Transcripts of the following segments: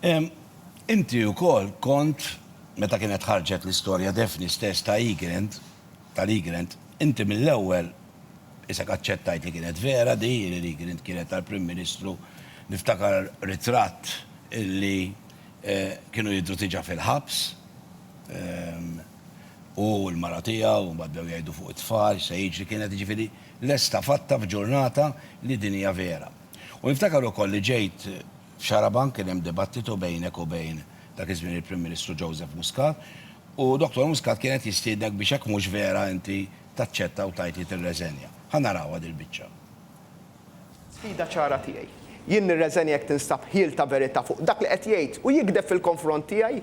Inti wkoll kont, meta kienet ħarġet l-istorja Daphne stess ta' Egrant, tal-Egrant, inti mill-ewwel isek aċċettajt li kienet vera di, li l-Egrant kienet tal-Prim Ministru. Niftakar ritratt li kienu jidhru diġà fil-ħabs, hu u l-mara tiegħu, u mbagħad bdew jgħidu fuq it-tfal, x'se jiġri, kienet jiġifieri lesta fatta f'ġurnata li din hija vera. U niftakar ukoll li ġejt, F'Xarabank kien hemm dibattitu bejnek u bejn dak iż-żmien il-Prim Ministru Joseph Muscat u Dottor Muscat kien qed jistiednek biex jekk mhux vera inti taċċetta u tgħid li tirreżenja. Ħa narawha dil-biċċa. Sfida ċara tiegħi. Jien nirreżenja jekk tinstab ħjiel ta' verità fuq dak li qed jgħid u jigdeb fil-konfront tiegħi.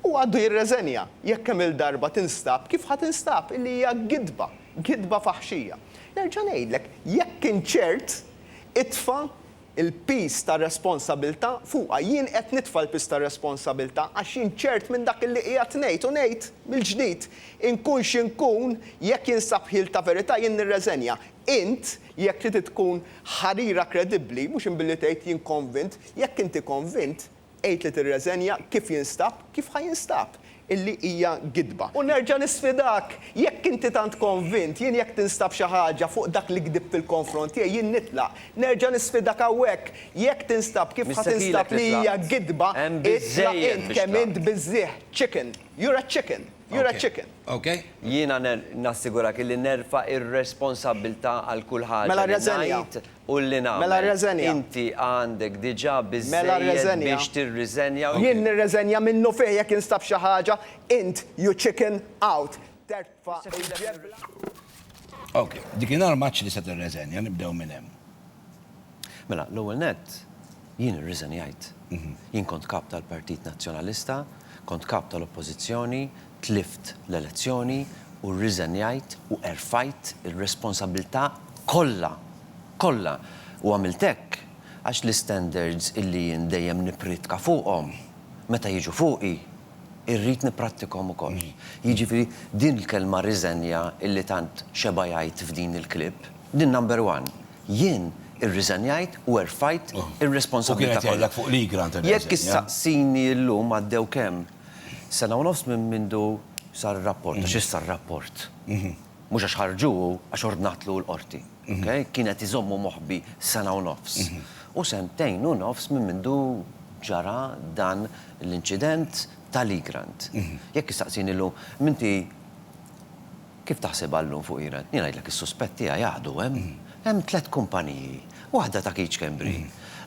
Huwa għaddu jirreżenja jekk kemm-il darba tinstab kif ħa tinstab illi hija gidba, gidba faħxija. Nerġa' ngħidlek, jekk int ċert, itfa' il-piż tar-responsabilità fuqha. Jien qed nitfa' l-piż tar-responsabilità għax jien ċert minn dak li qiegħed ngħid u ngħid mill-ġdid, inkun xi nkun, jekk jinsab ħjiel ta' verità jien nirreżenja. Int, jekk trid tkun ħarira kredibbli, mhux imbilli tgħid jien konvint, jekk inti konvint, Għid li tirreżenja kif jinstab, kif ħa jinstab, illi hija gidba. U nerġa' nisfidak, jekk inti tant konvint, jien jekk tinstab xi ħaġa fuq dak li gdibt fil-konfront tiegħi, jien nitlaq. Nerġa' nisfidak hawnhekk, jekk tinstab kif ħa tinstab li hija gidba, itlaq int, kemm int biżżieħ, chicken, you're a chicken, you're a chicken. Jiena nassigurak illi nerfa' ir-responsabbiltà għal kull ħaġa li ngħid. U li nagħmel? Mela rreżenja. Inti għandek diġà biżżejjed biex tirriżenja u. Jien nirreżenja minnufih jekk instab xi ħaġa, int you chicken out. Terfa' il-ġebla. Ok, dik hi norma għax tista' tirreżenja, nibdew minn hemm. Mela, l-ewwel nett, jien irriżenjajt. Jien kont Kap tal-Partit Nazzjonalista, kont Kap tal-Oppożizzjoni, Tlift l-elezzjoni u rriżenjajt u erfajt ir-responsabbiltà kollha, kollha, u għamilt hekk għax l-istandards illi jien dejjem nippriedka fuqhom, meta jiġu fuqi, irrid nipprattikhom ukoll. Jiġifieri din il-kelma riżenja illi tant xeba' jgħid f'din il-clip, din number one. Jien irriżenjajt u erfajt ir-responsabbiltà kollha. U kien qed jgħidlek fuq li, Grant, irriżenja. Jekk issaqsini llum għaddew kemm? Sena u nofs minn mindu sar ir-rapport, għax issa r-rapport, mhux għax ħarġu hu, għax ordnatlu hu l-Qorti, ok? Kien qed iżommu moħbi sena u nofs. U sentejn u nofs minn mindu ġara dan l-inċident ta' Lee Grant. Jekk issaqsini llum, m'inti kif taħsibha llum fuq Lee Grant? Jien ngħidlek is-suspett tiegħi għadu hemm. Hemm tliet kumpaniji, waħda ta' Keech Schembri,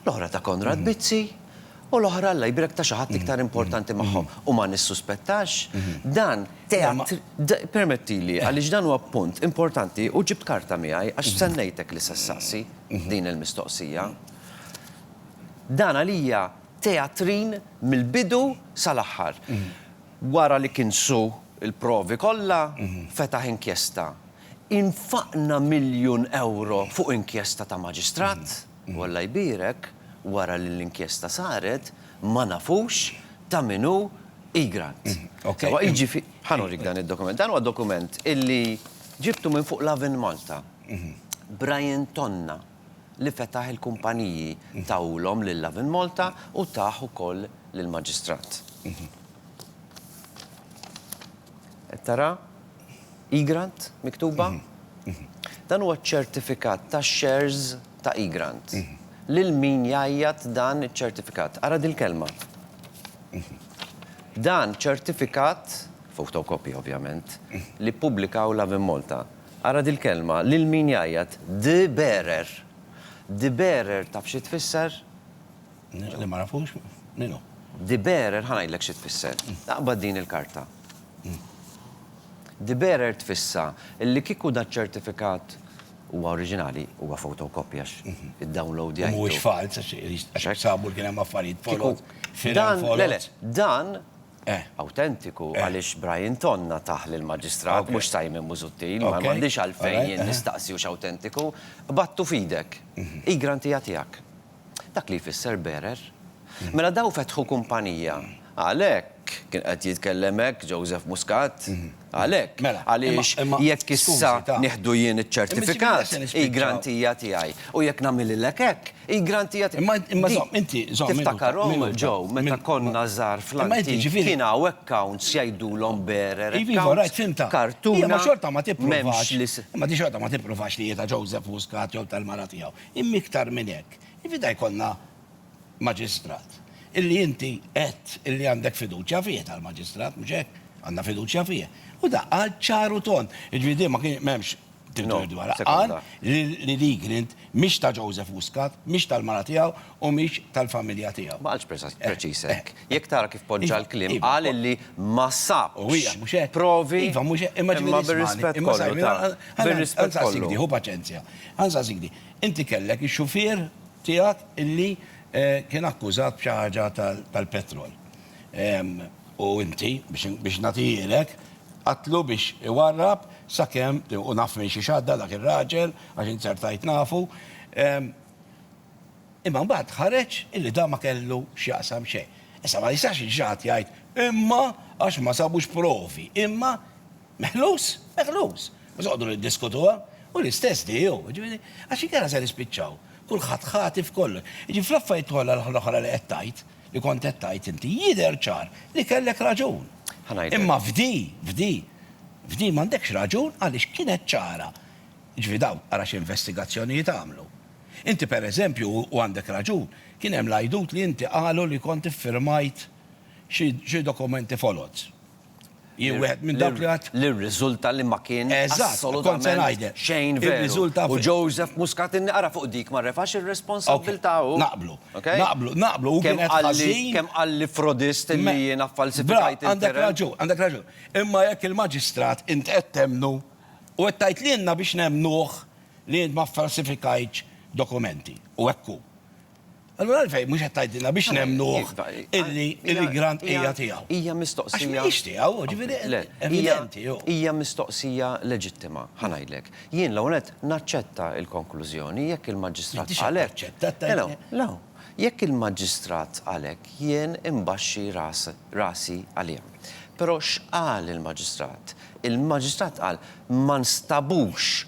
l-oħra ta' Konrad Bizzi, U l-oħra Alla jbierek ta' xi ħadd iktar importanti magħhom. U ma nissuspettax, dan teatr, d, permettili, għaliex dan huwa punt importanti u ġibt karta miegħi għax stennejtek li se ssaqsi din il-mistoqsija. Dan għalija teatrin mill-bidu sal-aħħar. Wara li kinsu l-provi kollha, fetaħ inkjesta. Infaqna miljun ewro fuq inkjesta ta' maġistrat. U Alla jbierek, wara li l-inkjesta saret, ma nafux ta' min hu E. Grant. Sewa, jiġifi-. Ħa nurik dan id-dokument. Dan huwa dokument illi ġibtu minn fuq l-Avonmalta. Brian Tonna, li fetaħ il-kumpaniji, tahulhom lill-Avonmalta u tah ukoll lill-Maġistrat. Qed tara? Egrant miktuba. Dan huwa ċ-ċertifikat tax-shares ta' Egrant. Lil min jgħajjat dan iċ-ċertifikat? Ara dil-kelma. Dan ċertifikat, photocopy ovvjament, li ppubblikaw Lovin Malta. Ara dil-kelma, lil min jgħajjat? The bearer. The bearer taf xi tfisser? Li ma nafux? Min hu? The bearer ħa ngħidlek xi tfisser. Aqbad din il-karta. De bearer tfissa li kieku daċ-ċertifikat huwa oriġinali, huwa photocopy għax iddownloadjajtu. U mhuwiex falz għax hekk sabu li kien hemm affarijiet folot, firem folot. Le, le, dan awtentiku għaliex Brian Tonna tah lill-Maġistrat, mhux Simon Busuttil, ma għandix għalfejn jien nistaqsi hux awtentiku, qbadtu f'idek. Hi grantija tiegħek. Dak li jfisser bearer. Mela dawn fetħu kumpanija. Għalhekk kien qed jitkellem hekk Joseph Muscat. Għalhekk. Mela. Għaliex jekk issa nieħdu jien iċ-ċertifikat, hi grantija tiegħi. U jekk nagħmililek hekk, hi grantija tiegħi. Imma imma żomm inti żomm. Tiftakarhom Joe meta konna żgħar fl-antik kien hawn accounts jgħidulhom bearer. Iva, iva, rajt film ta'. Kartuna. Imma xorta ma tippruvax. Imma di xorta ma tippruvax li hi ta' Joseph Muscat jew tal-mara tiegħu. Imma iktar minn hekk, ifidha jkollna Maġistrat illi inti għedt illi għandek fiduċja fih, tal-Maġistrat, mhux hekk? Għandna fiduċja fih. U dak qal ċar u tond. Jiġifieri din ma kien, m'hemmx dubju dwarha. Qal li l-Egrint mhix ta' Joseph Muscat, mhix tal-mara tiegħu u mhix tal-familja tiegħu. Ma qalx preċiż hekk. Jekk tara kif poġġa l-kliem, qal illi ma sabx provi imma bir-rispett kollu ta' bir-rispett kollu. Hu paċenzja. Ħa nsaqsik di. Inti kellek ix-xufier tiegħek illi kien akkużat b'xi ħaġa tal-petrol. U inti, biex nagħtihilek, għadtlu biex iwarrab sakemm, u naf minn xi x'għadda dak ir-raġel, għax int ser tgħid nafu, Imma mbagħad ħareġ illi dan ma kellu x'jaqsam xejn. Issa ma jistax jiġi xi ħadd jgħid, imma għax ma sabux provi, imma meħlus, meħlus. Mhux noqogħdu niddiskutuha. Hu l-istess di hu. Jiġifieri, għax inkella se nispiċċaw kulħadd ħati f'kollox. Jiġifieri fl-affarijiet kollha l-oħra li qed tgħid, li kont qed tgħid inti, jidher ċar li kellek raġun. Imma f'di, f'di, f'di m'għandekx raġun għaliex kienet ċara. Jiġifieri dawn ara xi investigazzjonijiet għamlu. Inti per eżempju, u għandek raġun, kien hemm l-għajdut li inti qalu li kont iffirmajt xi xi dokumenti foloz. Jien wieħed minn dawk li għadt. Li rriżulta li ma kien assolutament xejn veru. U Joseph Muscat inni qara fuq dik ma refax ir-responsabbiltà hu. Naqblu. Naqblu. Naqblu. Hu kien qed ħażin. Kemm qalli frodist illi jiena ffalsifikajt il-term. Għandek raġun. Għandek raġun. Imma jekk il-Maġistrat int qed temmnu u qed tgħid lilna biex nemmnuh, li int ma ffalsifikajtx dokumenti, u hekk hu. Allura għalfejn mhux qed tgħidilna biex nemmnuh illi l-grant hija tiegħu? Hija mistoqsija. Għax mhijiex tiegħu, jiġifieri evidenti hu. Hija mistoqsija leġittima, ħa ngħidlek. Jien l-ewwel nett naċċetta l-konklużjoni jekk il-Maġistrat qal hekk. M'intix qed taċċetta. Le, jekk il-Maġistrat qal hekk jien imbaxxi rasi għaliha. Però x'qal il-Maġistrat? Il-Maġistrat qal ma nstabux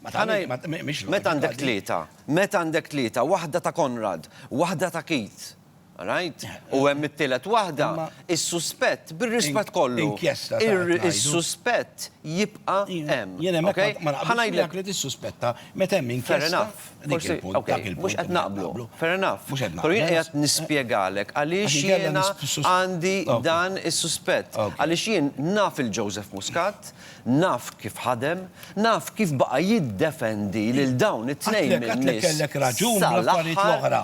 Meta għandek tlieta, meta għandek tlieta, waħda ta' Konrad, waħda ta' Keith, all right? U hemm it-tielet waħda, is-suspett, bir-rispett kollu, is-suspett jibqa' hemm. Jien hemmhekk ma naqbilx miegħek li tissuspetta meta hemm inkjesta. Dak il-punt, dak il-punt. Mhux qed naqblu. Fair enough. Mhux qed naqblu. Però jien qiegħed nispjegalek għaliex jiena għandi dan is-suspett. Għaliex jien naf lil Joseph Muscat, Naf kif ħadem, naf kif baqa' jiddefendi lil dawn it-tnejn minn-nies sal-aħħar. Għatlek, għatlek kellek raġun bl-affarijiet l-oħra.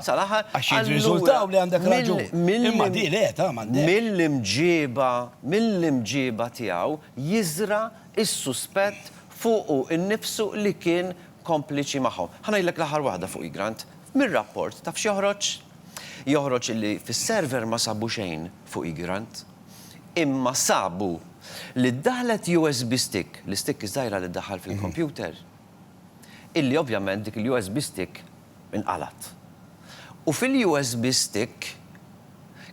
Għax jirriżultaw li għandek raġun. Imma di le, ta' m'għandekx. Mill-imġieba, mill-imġieba tiegħu jiżra' s-suspett fuqu nnifsu li kien kompliċi magħhom. Ħa ngħidlek l-aħħar waħda fuqi, Grant. Mir-rapport taf x'joħroġ? Joħroġ li fis-server ma sabu xejn fuqi, Grant. imma sabu li ddaħħlet USB stick, l-istikk iż-żgħira li ddaħħal fil-kompjuter, illi ovvjament dik il-USB stick inqalgħet. U fil-USB stick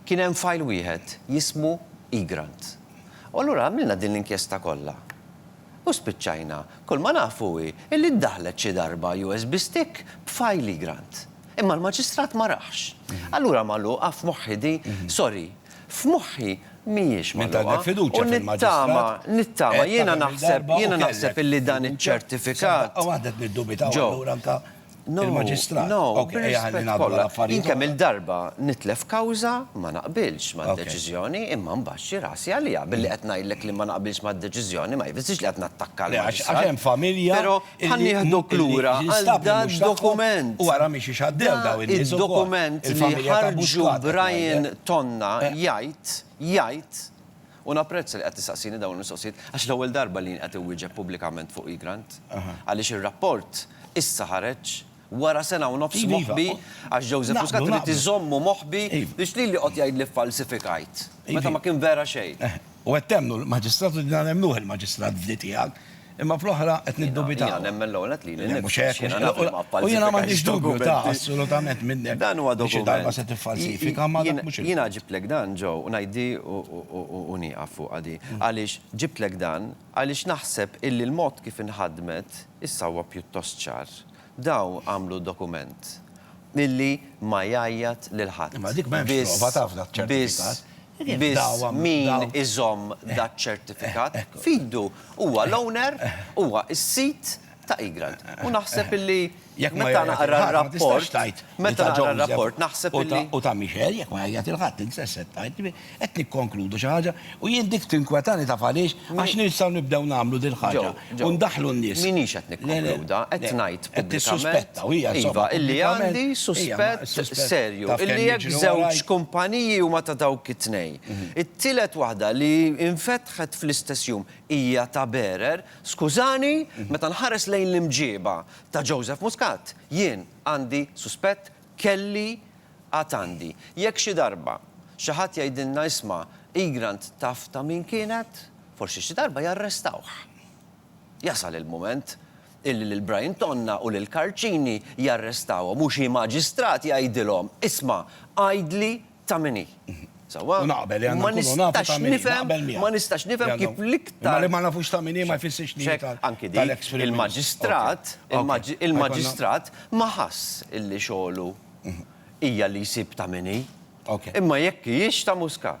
kien hemm fajl wieħed jismu eGrant. U allura għamilna din l-inkjesta kollha. U spiċċajna, kull ma nafu hi illi ddaħħlet xi darba USB stick b'fajl eGrant. Imma l-Maġistrat ma raħx. Allura magħluqa f'moħħi di, sorry. F'moħħi mhijiex magħluqa u nittama, nittama, jiena naħseb, jiena naħseb illi dan iċ-ċertifikat, Joe, no, no, bir-rispett kollha, jien kemm-il darba nitlef kawża ma naqbilx mad-deċiżjoni imma nbaxxi rasi għaliha, billi qed ngħidlek li ma naqbilx mad-deċiżjoni ma jfissirx li qed nattakka lill-Maġistrat, però, Ħa nieħduk lura għal dan dokument. U ara miex ixaddew daw in-nies ukoll. Dokument li ħarġu Brian Tonna jgħid, jgħid, u napprezza li qed tistaqsini dawn il-mistoqsijiet għax l-ewwel darba li jien qed inwieġeb pubblikament fuq Egrant. Għaliex ir-rapport issa ħareġ Wara sena u nofs moħbi, għax Joseph Muscat irid iżommu moħbi biex lili joqgħod jgħid li ffalsifikajt, meta ma kien vera xejn. U qed temmnu l-Maġistrat u jiena nemmnuh il-Maġistrat f'dhi tiegħek, imma fl-oħra qed niddubitaw. Jiena nemmen l-ewwel nett lili nnifsi. Mhux hekk, jiena naf li ma ffalsifikajtx. U jiena m'għandix dubju ta' assolutament minnek. Dan huwa dokument. Xi darba se tiffalsifika ma dak mhux. Jiena ġibtlek dan ġo u ngħid dhi u nieqaf fuqha dhi. Għaliex ġibtlek dan, għaliex naħseb illi l-mod kif inħadmet issa huwa pjuttost ċar. Daw għamlu dokument illi ma jgħajjat lil ħadd. Imma dik m'hemmx prova ta' f'dak ċertifikat. Biss, biss, biss min iżomm dak ċertifikat f'idu huwa l-owner, huwa s-sid ta' Egrant. U naħseb illi meta naqra r-rapport, meta naqra r-rapport naħseb illi. U ta' Michel jekk ma jgħajjat lil ħadd, int x'se tgħid? Qed nikkonkludu xi ħaġa u jien dik tinkwetani taf għaliex? Għax nistgħu nibdew nagħmlu din il-ħaġa u ndaħħlu n-nies. Ġew, Ġew, minix qed nikkonkluda, qed ngħid pubblikament, iva, illi għandi suspett serju illi jekk żewġ kumpaniji huma ta' dawk it-tnejn, it-tielet waħda li infetħet fl-istess jum hija ta' bearer, skużani, meta nħares lejn l-imġieba ta' Joseph Muscat, jien għandi suspett Kelli, Għad għandi. Jekk xi darba xi ħadd jgħidilna isma' Egrant taf ta' min kienet? Forsi xi darba jarrestawh. Jasal il-mument illi lil Brian Tonna u lil Karl Cini jarrestawhom u xi maġistrat jgħidilhom, isma' għidli ta' min hi. Sewwa? U naqbel li għandna nkunu nafu ta' min hi. Naqbel miegħek. Ma nistax nifhem kif l-iktar. Imma li ma nafux ta' min hi ma jfissirx li hi tal-eks Prim Ministru. Anki dik, il-Maġistrat ma ħass illi xogħlu hija li jsib ta' min hi. Imma jekk hijiex ta' Muscat.